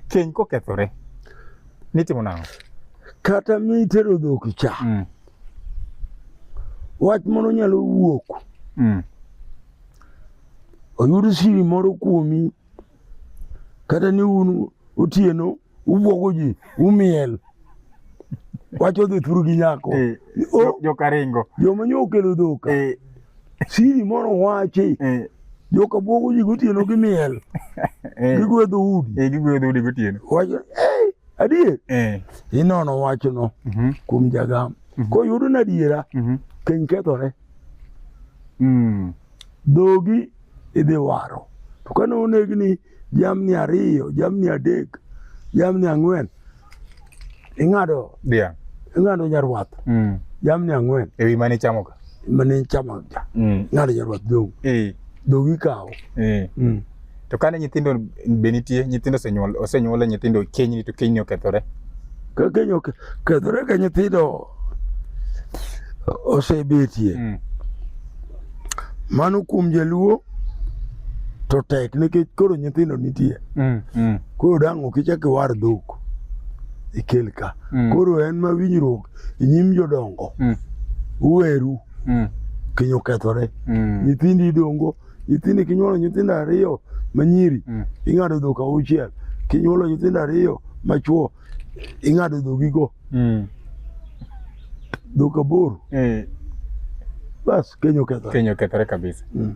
Keny kokethore nitimo nang'o? Kata mitero dhok cha mm. wach moro nyalo wuok mm. oyud siri moro kuomi kata ni un otieno ubwogo ji umiel wacho dhi thuru gi nyako eh, jokaringo joma nyo okelo dhoka eh. Siri moro wachi. Eh. Joka bwogo ji gotieno gi miel. Eh. Gigwedho udi. Eh, gigwedho udi gotieno. Wacho, eh, adier. Eh. Inono wachno mhm. kuom jagam. Mhm. Koyudo na adiera, mhm. piny kethore. Mm. Dhogi idhi waro. To kane onegni jamni ariyo, jamni adek, jamni ang'wen, ing'ado dhiang', ing'ado nyarwath mm. jamni ang'wen e wi mane ichamoga mane ichamoga mm. ing'ado nyarwath dong' e. dong' ikawo e. mm. to kane nyithindo be nitie nyithindo osenyuol osenyuole nyithindo kenyni to kenyni okethore ka keny okethore ka nyithindo osebetie mm. Mano kuom jaluo to tek nikech koro nyithindo nitie. Mm, mm. Koro dang' ok ichak iwar dhok ikel ka. Mm. Koro en ma winjruok e nyim jodongo. Mm. Uweru Mm, kinyo kethore. mm, Nyithindi idongo, nyithindi kinyuolo nyithindo ariyo manyiri, mm. ing'ado dhok auchiel. Kinyuolo nyithindo ariyo machuo, ing'ado dhogigo Mm. dhok aboro Eh, bas keny okethore keny okethore kabisa. Mm.